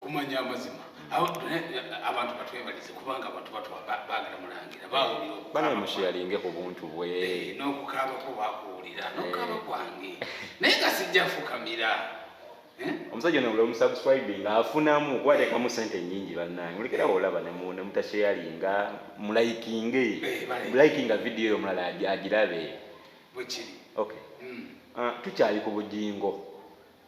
kumanya amazima abantu batwebalize kubanga abantu bagala mulangira bawulirabamushiyalinge ku buntu bwe eh, n'okukaabako bakuwulira eh. nokukaaba kwange naye nga sijja fukamira eh? omusajja ono buli omusubscribing afunamu kubatekamu sente nyingi bannange mulekerawo olaba nemutasheyalinga mulayikinge mulayikinga vidiyo eyo omulala agirabe bwekiri hmm. ah, tukyali ku bujingo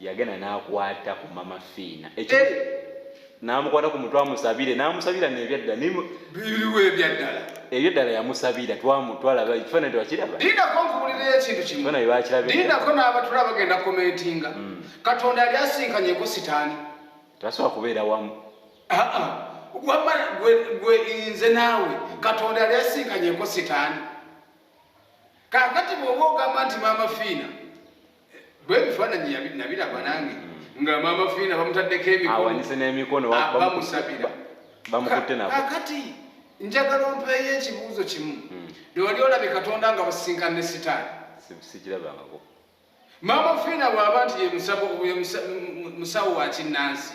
yagenda nakwata ku mama fiina ekyo eh! namukwata ku mutwe amusabire namusabira nebyadda biriwo ebyaddala ebyaddala yamusabira twamutwalaba ekifaananyi twakiraba dindako nkubulira ekintu kimu dindako n'abatula bagenda komentinga hmm. katonda yali asinkanyeko sitaani tasobola kubeera wamu ah, ah. wama gwe nze naawe katonda yali asinkanyeko sitaani kakati bwoba ogamba nti mama fiina bwe bifaananyi nabiraba nange nga maama fiina bamutaddeko emikonawanyise n'emikono bamusabira bamukutte nabo kakati njagala ompeeyo ekibuuzo kimu hmm. newali olabye katonda nga basinkana ne sitaani sikirabangako maama fiina bw'aba nti yemusawo wa kinnansi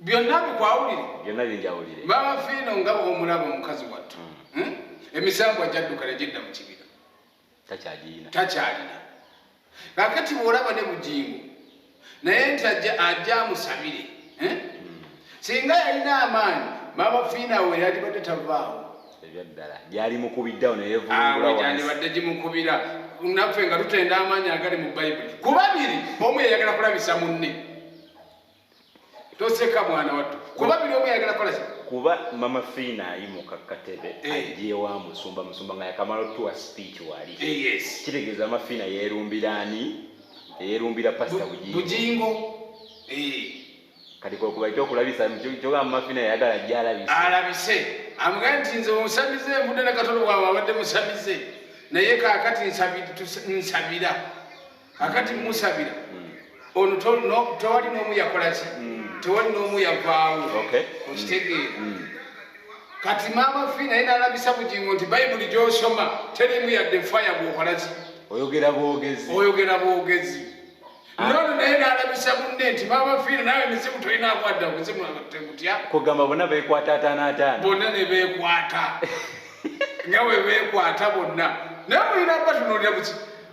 byonna bikwawulire byonna binjawulire maama fiino nga omulaba omukazi wattu hmm. hmm? emisambwa gyadduka ne gidda mu kibira takyagirina takyalina kakati bwolaba ne bugingo naye nti ajja ajja amusabire hmm? singa yalina amaanyi maama fiina we yalibadde tavaawo ebyaddala gyali mukubiddawo neyeyandibadde gimukubira naffe nga tutenda amaanyi agali mu bayibuli ku babiri omu yeyagala kulabisa munne toseka mwana wattu kuba biri omu yayagala kola ki kuba mama fiina ayimuka katebe eh. ajewa musumba musumba nga yakamala otuwa speech wali eh, kitegeeza mama fiina yeerumbira ani eyeerumbira pasita bujingo eh. kati kwekuba ekyokulabisa kyoga mama fiina yayagala jalabisa alabise amugaye nti nze onsamize mudde ne katolo bwawe abadde musamize naye kakati nsabira kakati musabira hmm. ono tewali n'omu yakola ki hmm. tewali n'omu yavaawo okitegeera hmm. kati maama fi naye nalabisa bugingo nti bayibuli gyosoma terimu yadde faya gwokola ki oyogera bwogezi oyogera bwogezi ah. nono naye nalabisa munne nti maama fiina nawe emizimu tolina akwadda omuzimu tegutya kugamba bona bekwata ataana ataana bonna ne bekwata nga we bekwata bonna naye mulina batunuulira buki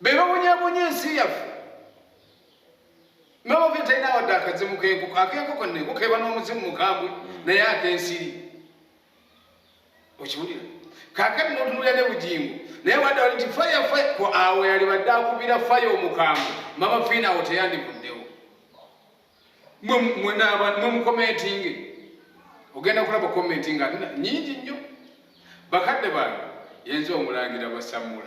be babonyabonya ensi yaffe nobavire talina wadde akazimu kenkoko akenkoko nenkoko eba n'omuzimu mukambwe naye akensiri okiwulira kakati notunulira ne bugingo naye wadde wali nti faya faya ku awo yali badde akubira faya omukambwe mama fiina awo teyandivuddewo mwemukomentinge ogenda kulaba komentinga nyingi nnyo bakadde bange yenza omulangira basamula